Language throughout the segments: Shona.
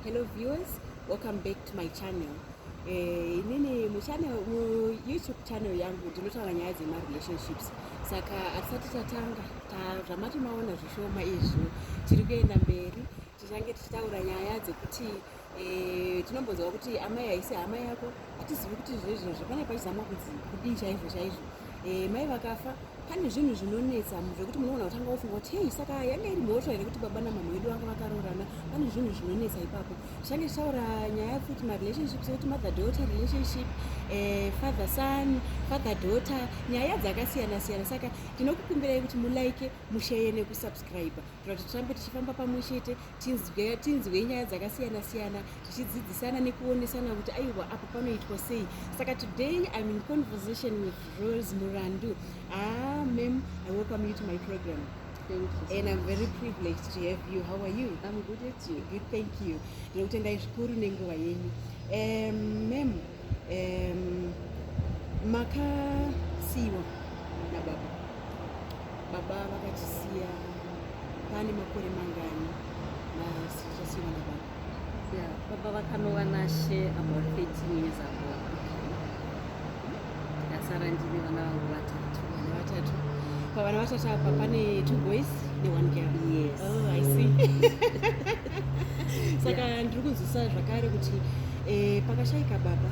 Hello viewers, welcome back to my channel. Eh, inini mu channel mu YouTube channel yangu ndinotaura nyaya dzema relationships. Saka atisati tatanga ta zvamati maona zvishoma izvo tiri kuenda mberi tichange tichitaura nyaya dzekuti eh, tinombonzwa kuti amai haisi hama yako atizivi kuti zvezvezvo pane pachizamwa kudii chaizvo chaizvo Eh, mai vakafa pane zvinhu zvinonetsa zvekuti munogona kutanga wofunga kuti hei saka yanga iri mhosva here kuti baba namama vedu vanga vakaroorana pane zvinhu zvinonetsa ipapo zvange zvichaura nyaya futi marelationship sekuti mother daughter relationship eh, father son father daughter nyaya dzakasiyana siyana saka tinokukumbirai kuti mulike musheye nekusubscribe kuratidza kuti tirambe tichifamba pamwe chete tinzwe tinzwe nyaya dzakasiyana siyana tichidzidzisana nekuonesana kuti aiwa apo panoitwa sei saka today im in conversation with rose murandu ah mam i welcome you to my program Thank you. And I'm very privileged to have you. How are you? I'm good at you. Good, thank you. Ndinokutendai zvikuru nenguva yenyu. Um, ma'am, um, makasiiwa nababa baba vakatisiya pane makore mangani masichasiiwa nababa yeah, baba vakanova nashe about 13 years ago ndasara ndine vana vangu vatatu vana vatatu pavana vatatu apa pane two boys ne one girl yes oh, i see saka yeah. ndiri kunzwisisa zvakare kuti eh, pakashaika baba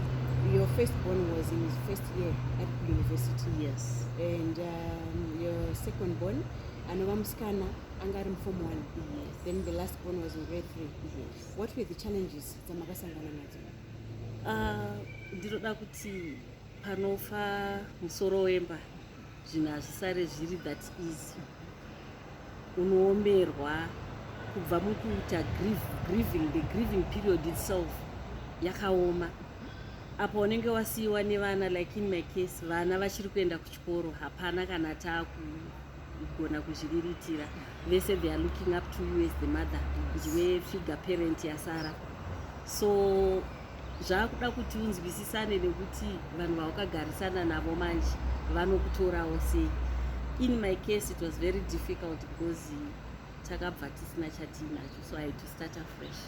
your first born was in his first year at university yes and um, your second born anova musikana anga ari muform one yes. then the last born was in grade three yes. what were the challenges dzamakasangana nadzo uh, ndinoda kuti panofa musoro wemba zvinhu hazvisare zviri that easy unoomerwa kubva mukuita grieving the grieving period itself yakaoma apa unenge wasiyiwa nevana like in my case vana vachiri kuenda kuchikoro hapana kana taakugona kuzviriritira vese they are looking up to you as the mother ndiwe figure parent yasara so zvakuda kuti unzwisisane nekuti vanhu vawakagarisana navo manje vanokutorawo sei in my case it was very difficult because takabva tisina chatiinacho so i had to start afresh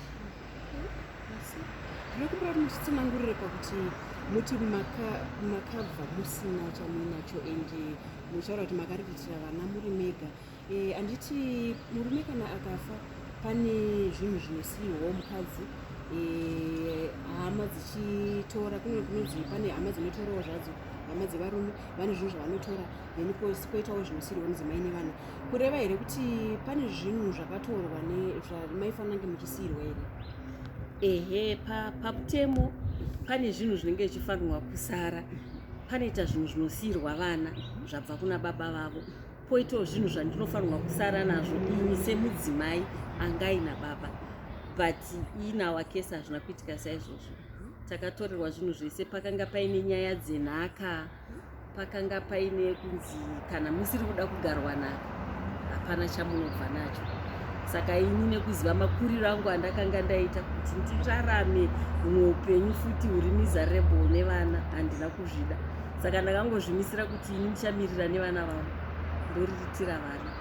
ndinokumbira kuti muchitsanangurire pakuti muti makabva musina chamuinacho and muchitaura kuti makariritira vana muri mega Eh, anditi murume kana akafa pane zvinhu zvinosiyiwawo mukadzi eh, hama dzichitora kune kunonzi pane hama dzinotorawo zvadzo hama dzevarume vane zvinhu zvavanotora then koitawo zvinosiyirwa mudzimai nevana kureva here kuti pane zvinhu zvakatorwa zvamaifanira nge muchisiyirwa here ehe pakutemo pane zvinhu zvinenge zvichifanirwa kusara panoita zvinhu zvinosiyirwa vana zvabva kuna baba vavo Poitawo zvinhu zvandinofanirwa kusara nazvo ini semudzimai angaina baba but in our case hazvina kuitika saizvozvo takatorerwa zvinhu zvese pakanga paine nyaya dzenhaka pakanga paine kunzi kana musiri kuda kugarwa naka hapana chamunobva nacho saka ini nekuziva makuriro angu andakanga ndaita kuti ndirarame mumwe upenyu futi huri miserable nevana handina kuzvida saka ndakangozvimisira kuti ini ndichamirira nevana vangu ndoriritira vana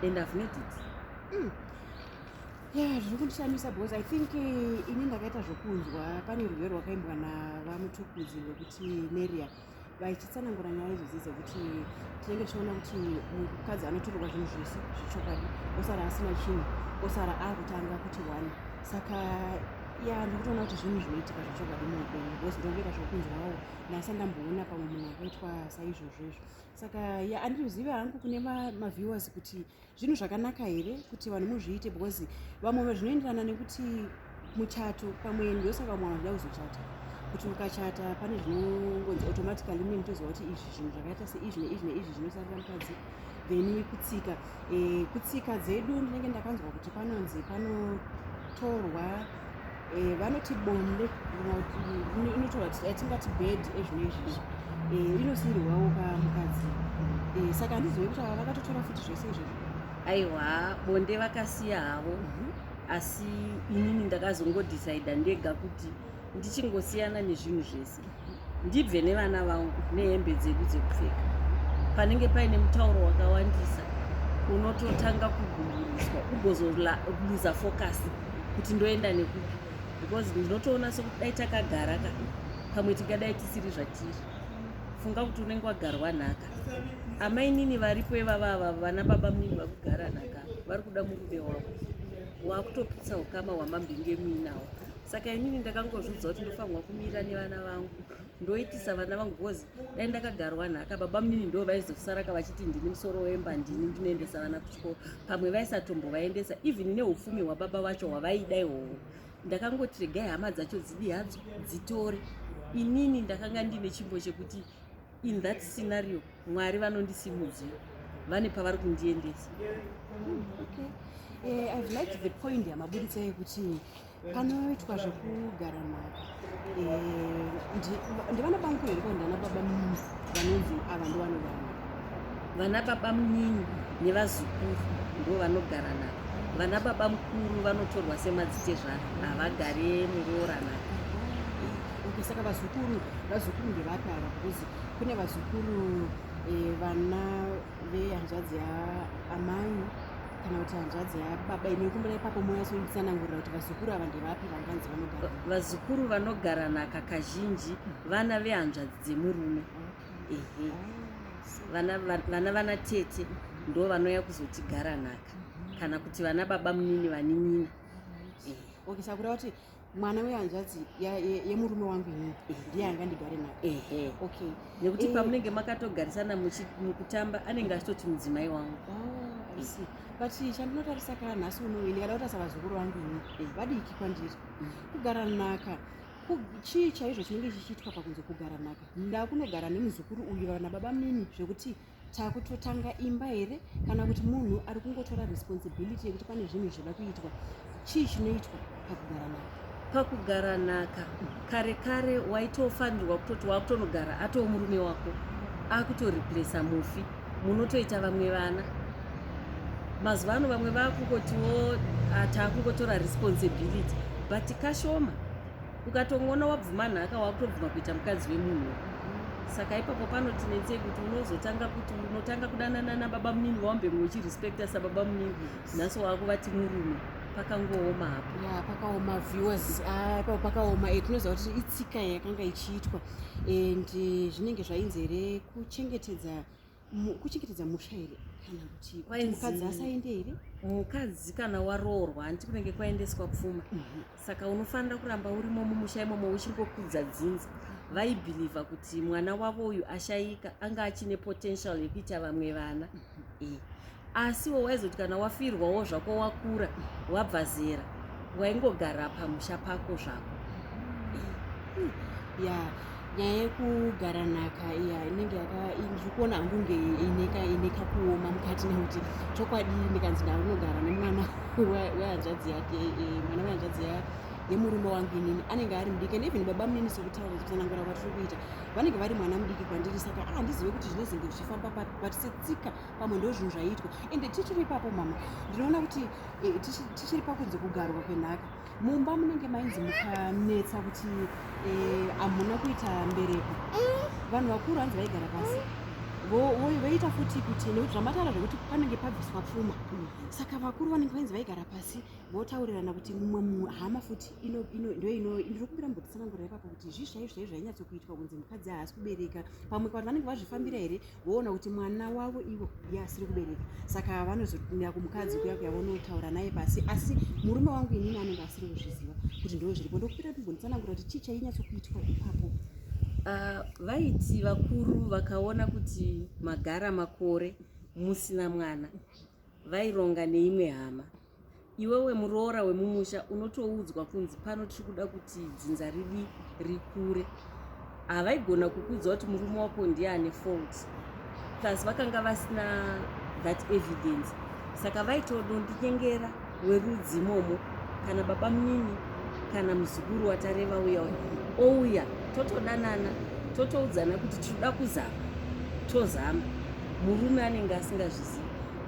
and i've made it mm. yeah zviri kundishamisa because i think eh, ini ndakaita zvokunzwa pane rwere rwakaimbwa navamutukudzi rwekuti neria vaichitsanangura nyaya idzodzi dzekuti tinenge tichiona kuti mukadzi anotorerwa zvinhu zvese zvechokwadi osara asina chinhu osara akutanga kuti one saka ya ndikutoona kuti zvinhu zvinoitika zvechokwadi muupenyu because ndongoita zvokunzwawo nasi andamboona pamwe munhu akaitwa saizvozvo izvo saka ya anditozive hangu kune maviewers kuti zvinhu zvakanaka here kuti vanhu muzviite because vamwe zvinoenderana nekuti muchato pamwe ndosaka vamwe vanhu vada kuzochata kuti mukachata pane zvinongonzi automatically mune mutoziva kuti izvi zvinhu zvakaita seizvi neizvi neizvi zvinosarira mukadzi then kutsika e, kutsika dzedu ndinenge ndakanzwa kuti panonzi panotorwa e, vanoti bonde inotorwa atingati bed ezvino izvizvi e, inosiirwawo kamukadzi e, saka handizive kuti ava vakatotora futi zvese izvozvo aiwa bonde vakasiya havo mm -hmm asi inini ndakazongodecida ndega kuti ndichingosiyana nezvinhu zvese ndibve nevana vangu nehembe dzedu dzekupfeka panenge paine mutauro wakawandisa unototanga kuguguriswa ugozoluza focus kuti ndoenda nekupi because ndinotoona sekudai takagara ka pamwe tingadai tisiri zvatiri funga kuti unenge wagarwa nhaka amainini varipo ivava ava vana baba mini vakugara nhaka vari kuda murume wavo wakutoputsa ukama hwamambinge muinawo saka inini ndakangozviudza kuti ndofanirwa kumira nevana vangu ndoitisa vana vangu bcause dai ndakagarwa nhaka baba mnini ndo vaizosaraka vachiti ndini musoro wemba ndini ndinoendesa vana kuchikoro pamwe vaisatombovaendesa even neupfumi hwababa vacho hwavaida ihoho ndakangoti regai hama dzacho dzidi hadzo dzitore inini ndakanga ndine chimbo chekuti in that scenario mwari vanondisimudzira vane pavari kundiendesa hmm, okay. uh, eh, i've liked the point yamaburitsa yekuti panoitwa zvekugara mhaka eh, ndivana bangu here kana ndana baba munyini vanonzi ava ndovanogara vana baba munyini nevazukuru ndo vanogara navo vana baba mukuru vanotorwa semadzitezvana havagare muroora navo okay saka vazukuru vazukuru ndevapi ava because kune vazukuru eh, vana vehanzvadzi yaamai kana kuti hanzvadzi yababa inokumbira ipapo moya soitsanangurira kuti vazukuru ava ndevapi vanganzi vanogara vazukuru vanogara naka kazhinji vana vehanzvadzi dzemurume ehe vana vana tete ndo vanouya kuzotigara naka kana kuti vana baba munini vaninina okay sakura kuti mwana wehanzvadzi yemurume ye, ye wangu ini ndiye anga ndigare naye okay nekuti eh, pamunenge makatogarisana mukutamba anenge achitoti mudzimai wangu oh, eh. but chandinotarisa kana nhasi uno ini kada kutarisa vazukuru vangu ini eh. vadiki kwandiri mm. kugara naka chii chaizvo chinenge chichiitwa pakunzi kugara naka ndakunogara nemuzukuru uyu vana baba mimi zvekuti takutotanga imba here kana kuti munhu ari kungotora responsibility yekuti pane zvinhu zvoda kuitwa chii chinoitwa pakugara naka pakugara naka kare kare waitofanirwa kutoti wakutonogara atoo murume wako akutoreplesa mufi munotoita vamwe vana mazuva ano vamwe vakungotiwo ah, takungotora responsibility but kashoma ukatongoona wabvuma nhaka wakutobvuma kuita mukadzi wemunhu saka ipapo panotinetsei kuti unozotanga kuti unotanga kudanana nababa munini vawambe mwe uchirespecta sababa munini nhasi wakuvati murume pakangooma hapo ya pakaoma viewers ah, ipapo pakaoma eh, tinoziva kuti itsika yakanga ichiitwa and eh, zvinenge zvainzi here kuchengetedza kuchengetedza musha here kana kuti mukadzi asaende here mukadzi kana waroorwa hanti kunenge kwaendeswa pfuma mhm. saka unofanira kuramba urimo mumusha imomo uchingokudza dzinza vaibhilivha kuti mwana wavo uyu ashaika anga achine potential yekuita vamwe vana mhm. eh, asiwo waizoti kana wafirwawo zvako wakura wabva zera waingogara pamusha pako zvako ya nyaya yekugara nhaka ya inenge yakazvikuona hangu nge ineka ineka kuoma mukati nekuti chokwadi ndikanzi ndava kunogara nemwana wehanzvadzi yake e, mwana wehanzvadzi ya yemurume wangu inini anenge ari mudiki and even baba munini sekutaura kutsanangura kwatiri kuita vanenge vari mwana mudiki kwandiri saka ahandizive ah, kuti zvinozenge zvichifamba patisetsika pamwe ndozvinhu zvaiitwa ende tichiri ipapo mama ndinoona kuti eh, tichiri pakunzi kugarwa kwenhaka mumba munenge mainzi mukanetsa kuti eh, hamuna kuita mbereko vanhu vakuru hanzi vaigara pasi voita futi kuti nekuti zvamataura zvekuti panenge pabviswa pfuma saka vakuru vanenge vainzi vaigara pasi votaurirana kuti mumwe mumwe hama futi ndoinokumbira mbotsanangura ipapo kuti zvii zvaizvo zvainyatsokuitwa kunzi mukadzi haasi kubereka pamwe vanhu vanenge vazvifambira here voona kuti mwana wavo ivo ye asiri kubereka saka vanozotumira kumukadzi kuya kuya vonotaura naye pasi asi murume wangu inini anenge asiri kuzviziva kuti ndoo zviripo ndokupera timbonditsanangura kuti chii chainyatsokuitwa ipapo ah, vaiti vakuru vakaona kuti magara makore musina mwana vaironga neimwe hama Iwewe muroora wemumusha unotoudzwa kunzi pano tiri kuda kuti dzinza ridi rikure. Havaigona kukuudza kuti murume wako ndiye ane fault. Plus vakanga vasina that evidence. Saka vaitodondinyengera werudzi imomo kana baba munini kana muzukuru watareva uya ouya totodanana totoudzana kuti tinoda kuzama tozama murume anenge asingazvizivi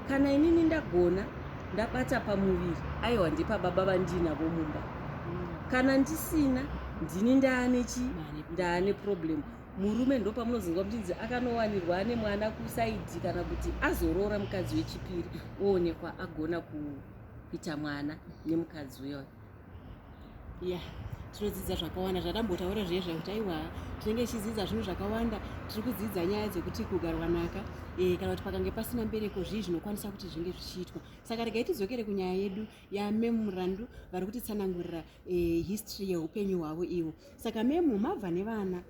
kana inini ndagona ndabata pamuviri aiwa ndepababa vandiinavo mumba kana ndisina ndini ndaane chi ndaane problem murume ndopamunozonzwa muchinzi akanowanirwa ane mwana kusaidhi kana kuti azoroora mukadzi wechipiri oonekwa agona kuita mwana nemukadzi uyoyo yeah tinodzidza zvakawanda zvatambotaura zviye zvekuti aiwa tinenge tichidzidza zvinhu zvakawanda tiri kudzidza nyaya dzekuti kugarwanaka e, eh, kana kuti pakange pasina mbereko zvii zvinokwanisa kuti zvinge zvichiitwa saka regai tidzokere kunyaya yedu yamemurandu vari kutitsanangurira e, history yeupenyu hwavo ivo saka memu mabva nevana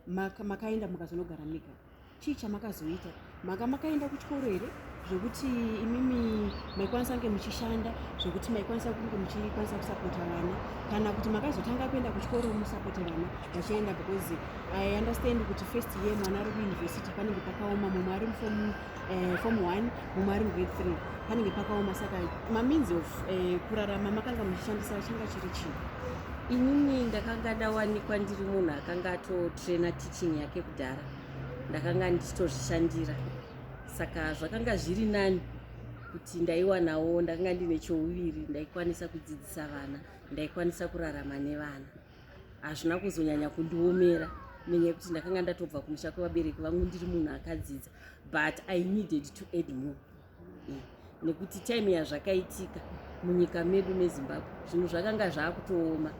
maka makaenda mukazonogara mega chii chamakazoita maka makaenda kuchikoro here zvekuti imimi maikwanisa kunge muchishanda zvekuti maikwanisa kunge muchikwanisa kusapota vana kana kuti makazotanga kuenda kuchikoro musapota vana vachienda because i understand kuti first year mwana ari kuuniversity panenge pakaoma mumwe ari mufom eh, form 1 mumari ngwe 3 panenge pakaoma saka mameans of eh, kurarama makanga muchishandisa changa chiri chii inini ndakanga ndawanikwa ndiri munhu akanga atotraina teaching yake kudhara ndakanga ndichitozvishandira saka zvakanga zviri nani kuti ndaiwanawo ndakanga ndine chouviri ndaikwanisa kudzidzisa vana ndaikwanisa kurarama nevana hazvina kuzonyanya kundiomera nenyaya yekuti ndakanga ndatobva kumusha kwevabereki vangu ndiri munhu akadzidza but i needed to add more eh, nekuti time yazvakaitika munyika medu mezimbabwe zvinhu zvakanga zvaakutooma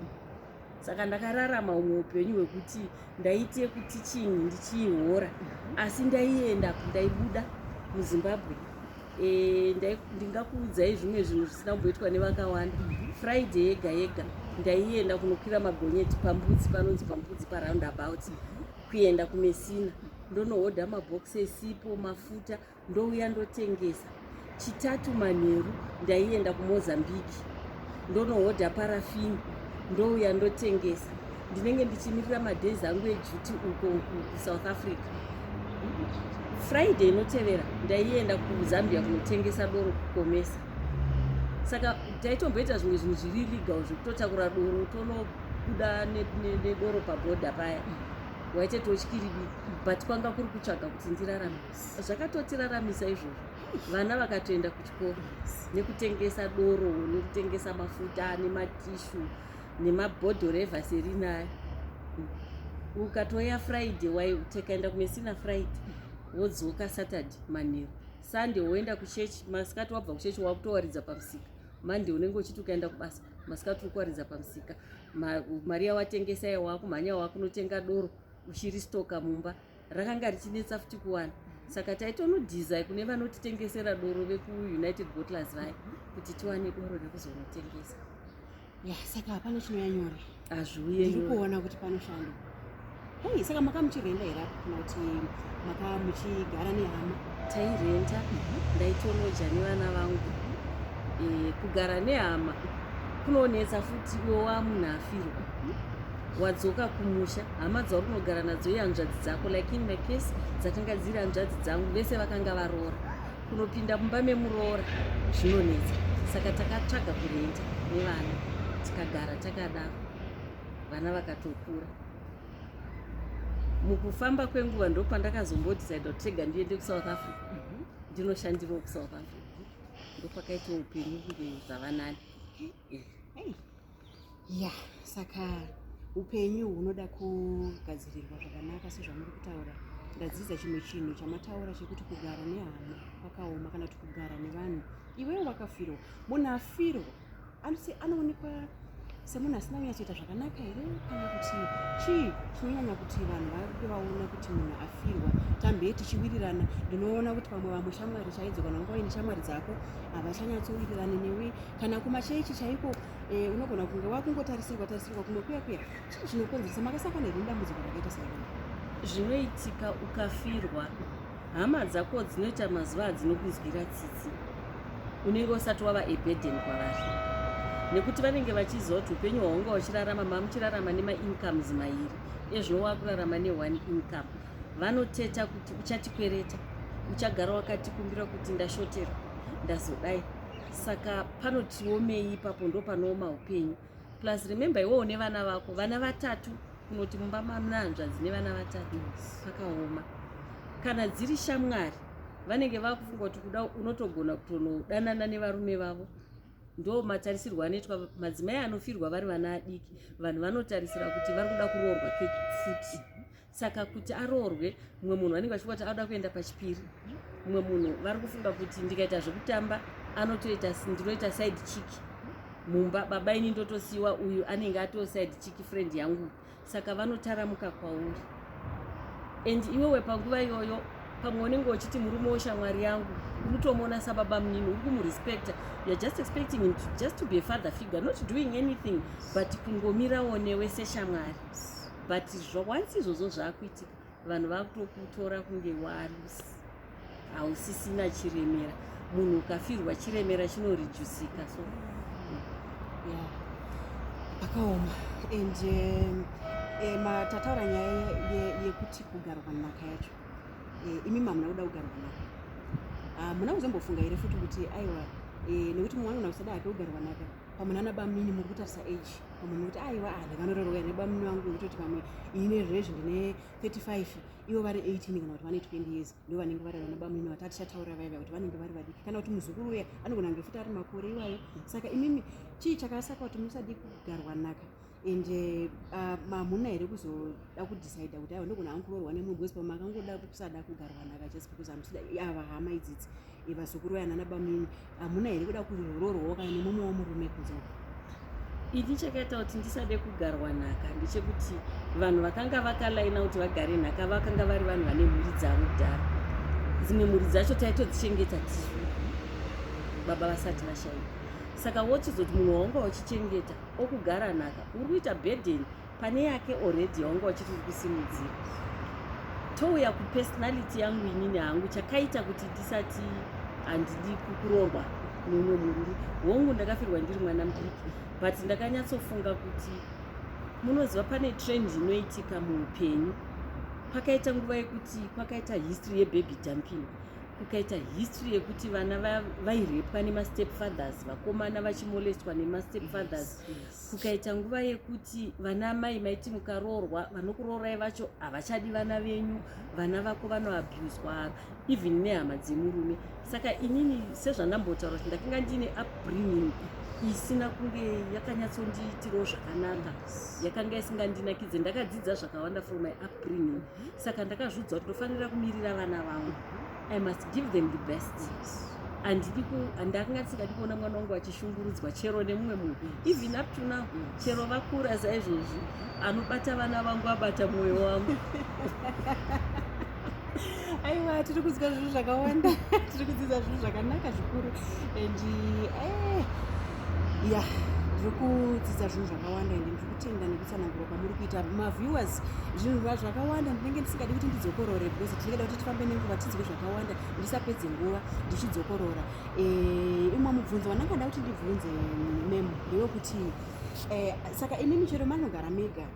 saka ndakararama umwe upenyu hwekuti ndaiti yekuti chinhu ndichiihora asi ndaienda ndaibuda muzimbabwe eh, ndingakuudzai zvimwe zvinhu zvisina kumboitwa nevakawanda friday yega yega ndaienda kunokwira magonyeti pambudzi panonzi pambudzi paround about kuenda kumesina ndonohodha mabhokisi esipo mafuta ndouya ndotengesa chitatu manheru ndaienda kumozambique ndonohodha parafini ndouya ndotengesa ndinenge ndichimirira madhays angu eduty uko kusouth africa friday inotevera ndaienda kuzambia kunotengesa doro kukomesa saka taitomboita zvimwe zvinhu zviri legal zvekutotakura doro tonobuda nedoro pabhodha paya waite totyiribi but kwanga kuri kutsvaga kuti ndirarame zvakatotiraramisa izvozvo vana vakatoenda kuchikoro nekutengesa doro nekutengesa mafuta nematishu nemabhodhoro evaserina ayo ukatoya friday waitekaenda kumesina friday wodzoka saturday manheru Sunday woenda kuchechi, masikati wabva kuchechi wakutowaridza pamusika. Monday unenge uchiti ukaenda kubasa, masikati ukuwaridza pamusika. Ma, mari yawatengesa iya wakumhanya wakunotenga doro uchiri stoka mumba. Rakanga richinetsa futi kuwana. Saka taitonodhizai kune vanotitengesera doro vekuUnited Bottlers vaya kuti tiwane doro rekuzonotengesa. ya saka hapana chinouya nyore hazviuye ndiri kuona kuti panoshanda hei saka makamuchirenda here apo kana kuti maka muchigara nehama tairenta mhm. ndaitoloja nevana vangu eh, kugara nehama kunonetsa futi iwo wamunhu afirwa wadzoka kumusha hama dzauri kunogara nadzo ihanzvadzi dzako like in my case dzakanga dziri hanzvadzi dzangu vese vakanga varoora Kunopinda mumba memuroora zvinonetsa, saka takatsvaga kurenta nevana tikagara takadaro, vana vakatokura. Mukufamba kwenguva ndopandakazombodecide kuti rega ndiende kuSouth Africa mhm. ndinoshandirawo kuSouth Africa, ndopakaita upenyu kunge zvavanani. ya saka upenyu hunoda kugadzirirwa zvakanaka sezvamuri kutaura ndadzidza chimwe chinhu chamataura chekuti kugara nehama kwakaoma kana kuti kugara nevanhu iwewo wakafirwa munhu afirwa anoti anoonekwa semunhu asina kunyatsoita zvakanaka here kana kuti chii chinonyanya kuti vanhu vave vaona kuti munhu afirwa tambe tichiwirirana ndinoona kuti pamwe vamwe shamwari chaidzo kana ungawaine shamwari dzako havachanyatsowirirane newe kana kumachechi chaiko eh, unogona kunge wakungotarisirwa tarisirwa kumwe kuya kuya chii chinokonzeresa makasangana here dambudziko rakaita sairona zvinoitika ukafirwa hama dzako dzinoita mazuva adzinokunzwira tsitsi unenge usati wava ebeden kwavari nekuti vanenge vachiziva kuti upenyu hwaunga uchirarama mamuchirarama nemaincomes mairi ezvino wakurarama neone income vanoteta kuti uchatikwereta uchagara wakatikumbira kuti ndashoterwa ndazodai saka panotiomei ipapo ndo panooma upenyu plus remember iwewo nevana vako vana vatatu kunoti mumba mamna hanzvadzi nevana vatatu pakaoma kana dziri shamwari vanenge vakufunga kuti kuda unotogona kutonodanana nevarume vavo ndo matarisirwo anoitwa madzimai anofirwa vari vana adiki vanhu vanotarisira kuti vari kuda kuroorwa kekufuti saka kuti aroorwe mumwe munhu vanenge vachifunga kuti anoda kuenda pachipiri mumwe munhu vari kufunga kuti ndikaita zvekutamba anotoita ndinoita side chick mumba baba ini ndotosiyiwa uyu anenge atoo side chick friend yangu saka vanotaramuka kwauri and iwewe panguva iyoyo pamwe unenge uchiti murume weshamwari yangu unotomuona sababa munini uri kumurespecta youare just expecting him just to be a father figure not doing anything but kungomirawo newe seshamwari but once izvozvo zvakuitika vanhu vakutokutora kunge walusi hausisina chiremera munhu ukafirwa chiremera chinorijusika so akaoma and um, eh, matataura nyaya yekuti kugarwa nhaka yacho eh, imi mamuna kuda kugarwa nhaka ah, muna kuzombofunga here futi kuti aiwa eh, nekuti mumwe anonakisada hake kugarwa nhaka pamwe nana bamnini muri kutarisa age pamwe mukuti aiwa ah, ndakanoreroka ine bamnini vangu vekutoti pamwe ine zvezvi ndine 35 ivo vari 18 kana kuti vane 20 years ndo vanenge vari vana bamnini vati atichataura vaiva kuti vanenge vari vadiki kana kuti muzukuru uya anogona ngefuti ari makore iwayo saka imimi chii chakasaka kuti musadi kugarwa naka and eh, ah, mamuna here kuzoda kudecide kuti aiwa ndogona hangu kuroorwa nemunhu wese pamwe akangoda kusada kugarwa naka just because amusida ava hama idzidzi vazukuru vaya nana bamini hamuna here kuda kuroorwawo kana nemumwe wamurume kunze ini chakaita kuti ndisade kugarwa nhaka ndechekuti vanhu vakanga vakalaina kuti vagare nhaka vakanga vari vanhu vane mhuri dzavo kudhara dzimwe mhuri dzacho taitodzichengeta tisu baba vasati vashaika saka wochizoti munhu waunga uchichengeta okugara nhaka uri kuita burden pane yake already yaunga uchiti uri kusimudzira touya kupersonality yangu inini hangu chakaita kuti ndisati handidi kuroorwa mumwe murume hongu ndakafirwa ndiri mwana mudiki but ndakanyatsofunga kuti munoziva pane trend inoitika muupenyu pakaita nguva yekuti kwakaita history yebaby dumping kukaita history yekuti vana vairepwa va nemastep fathers vakomana vachimolestwa nemastep fathers yes, yes. kukaita nguva yekuti vana amai maiti mukaroorwa vanokuroorai vacho havachadi vana venyu vana vako vanoabuswa even nehama dzemurume saka inini sezvandambotaura kuti ndakanga ndiine upbringing isina kunge yakanyatsondiitirawo zvakanaka yakanga isingandinakidze ndakadzidza zvakawanda from my upbringing saka ndakazviudza kuti ndofanira kumirira vana vangu i must give them the best andakanga tisingadi kuona mwana wangu achishungurudzwa chero nemumwe munhu even up to now chero vakura saizvozvi anobata vana vangu abata mwoyo wangu aiwa tiri kudzidza zvinhu zvakawanda tiri kudzidza zvinhu zvakanaka zvikuru and eh, ya ndiri kudzidza zvinhu zvakawanda and ndiri kutenda tsanangura kwamuri kuita maviewers zvinhu va zvakawanda ndinenge ndisingadi kuti ndidzokorore because tinengeda kuti tifambe nenguva tinzwe zvakawanda ndisapedze nguva ndichidzokorora eh, umwe mubvunzo wandanga nda kuti ndibvunze mem ndewekuti eh, saka imi michero manogara mega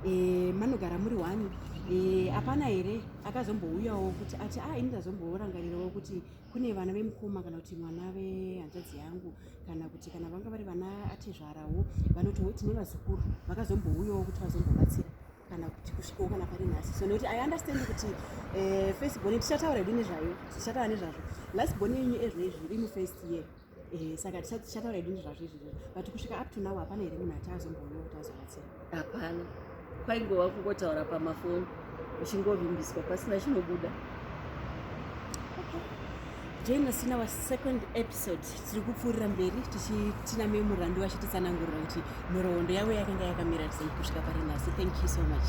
eh, manogara muri wani hapana here akazombouyawo kuti ati a ah, ini ndazomborangarirawo kuti kune vana vemukoma kana kuti mwana vehanzvadzi yangu kana kuti kana vanga vari vana atezvarawo vanotiwo tine vazukuru vakazombouyawo kuti vazombobatsira kana kuti kusvikawo kana pari nhasi so nekuti i understand kuti eh, first bone tichataura hedu nezvayo tichataura nezvazvo last bone yenyu ezvo izvi iri mufirst year Eh, saka tichataura hedu nezvazvizvi but kusvika up to now hapana here munhu ati azomboona kuti azobatsira hapana kwaingova kungotaura pamafoni uchingovimbiswa pasina chinobuda join us in our second episode tiri kupfuurira mberi tichitinamei murandu vachititsanangurira kuti nhoroondo yavo yakanga yakamira sei kusvika pari nhasi thank you so much